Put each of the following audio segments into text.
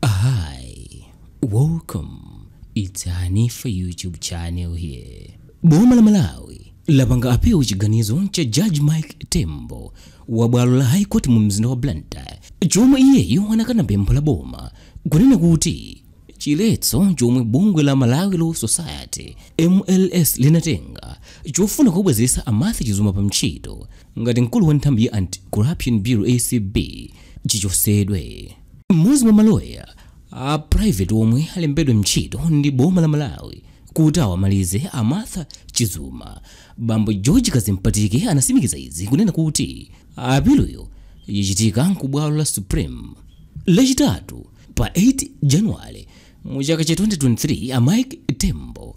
Hi, welcome. It's Hanifa YouTube channel here. Boma la Malawi lapanga appeal chiganizo cha Judge Mike Tembo wa bwalo la High Court mu mzinda wa Blantyre chomwe iyeyo anakana pempho la boma kunena kuti chiletso chomwe bungwe la Malawi Law Society MLS linatenga chofuna kubwezeretsa a Martha Chizuma pa ntchito ngati mkulu wa nthambi ya Anti-Corruption Bureau ACB chichotsedwe. Mmodzi mwa maloya a private omwe alembedwa ntchito ndi boma la Malawi kuti awamalize a Martha Chizuma, bambo George Kadzipatike anatsimikiza izi kunena kuti apiluyo yachitika ku bwalo la Supreme lachitatu pa 8 January mu chaka cha 2023. A Mike Tembo,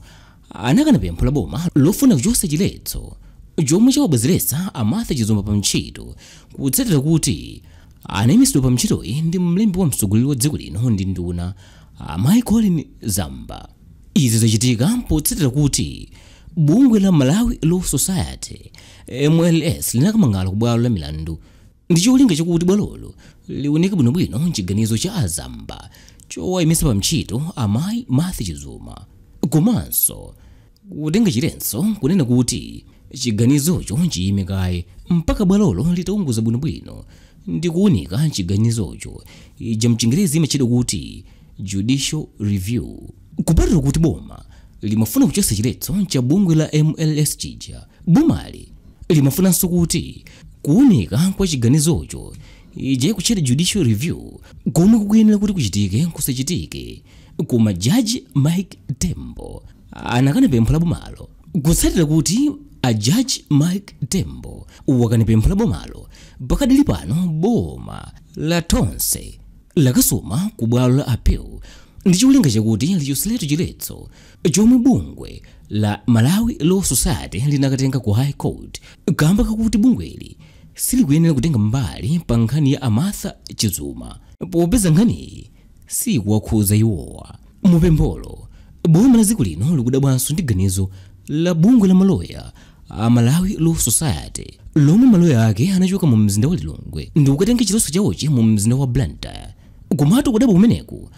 anakana pempho la boma lofuna kuchotsa chiletso chomwe chawabwezeretsa a Martha Chizuma pa ntchito kutsatira kuti anaimitsidwa pa ntchitoyi ndi mlembi wa mtsogoleri wa dziko lino ndi nduna amayi Colleen Zamba. Izi zachitika potsatira kuti bungwe la Malawi Law Society MLS linakamang'ala ku bwalo la milandu ndi cholinga chakuti bwalolo liunike bwinobwino chiganizo cha a Zamba chowaimitsa pa ntchito amayi Martha Chizuma komanso kutenga chiletso kunena kuti chiganizocho chiyime kaye mpaka bwalolo litaunguza bwinobwino ndi kuunika chiganizocho ija mchingerezi imatchedwa kuti judicial review. kupatula kuti boma limafuna kuchotsa chiletso cha bungwe la mls chija bomali limafunanso kuti kuunika kwa chiganizocho ija ikutchedwa judicial review komwe kukuyenera kuti kuchitike kusachitike koma jaji mike tembo anakana pempho la bomalo kutsatira kuti a jaji mike tembo wakana pempho la bomalo pakadali pano boma la tonse lakasuma ku bwalo la appeal ndi cholinga chakuti lichotseretu chiletso chomwe bungwe la malawi law society linakatenga ku high court kamba kakuti bungweli silikuyenera kutenga mbali pa nkhani ya a martha chizuma popeza nkhaniyi sikuwakhuza iwowa mupempholo boma la dziko lino likudabwanso ndi ganizo la bungwe la maloya a Malawi Law Society lomwe maloya ake anachoka mu mzinda wa Lilongwe ndi kukatenga chiletso chawochi mu mzinda wa Blantyre. Komatu kudabwa kumeneku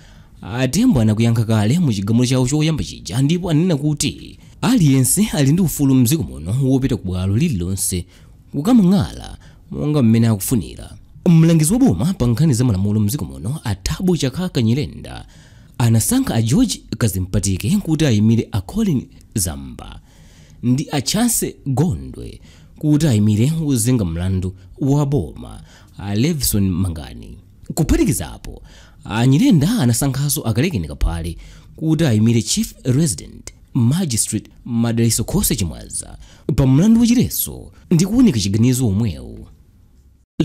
a Tembo anakuyankha kale mu chigamulo chawo choyamba chija ndipo ananena kuti aliyense ali ndi ufulu mdziko muno wopita ku bwalo lililonse kukamang'ala monga mmene akufunira. Mlangizi wa boma pa nkhani za malamulo mdziko muno a Thabo Chakaka Nyirenda anasankha a George Kadzipatike kuti ayimire a Colleen Zamba. ndi a Chance Gondwe kuti ayimire wozenga mlandu wa boma a Levison Mangani. Kuphatikizapo, a Nyirenda anasankhanso a Kalekeni Kaphale kuti ayimire Chief Resident Magistrate Madalitso Khoswe Chimwaza pa mlandu wachiletso ndi kuunika chiganizo womwewu.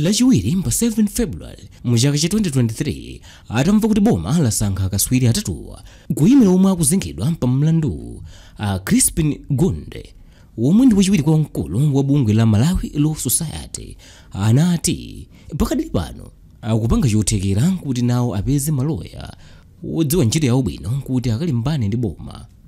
lachiwiri pa 7 february mu chaka cha 2023 atamva kuti boma lasankha akatswiri atatuwa kuyimira omwe akuzengedwa pa mlanduwu a crispin ngunde womwe ndi wachiwiri kwa mkulu wa bungwe la malawi law society anati pakadali pano akupanga chothekera kuti nawo apeze maloya wodziwa ntchito yawo bwino kuti akalimbane ndi boma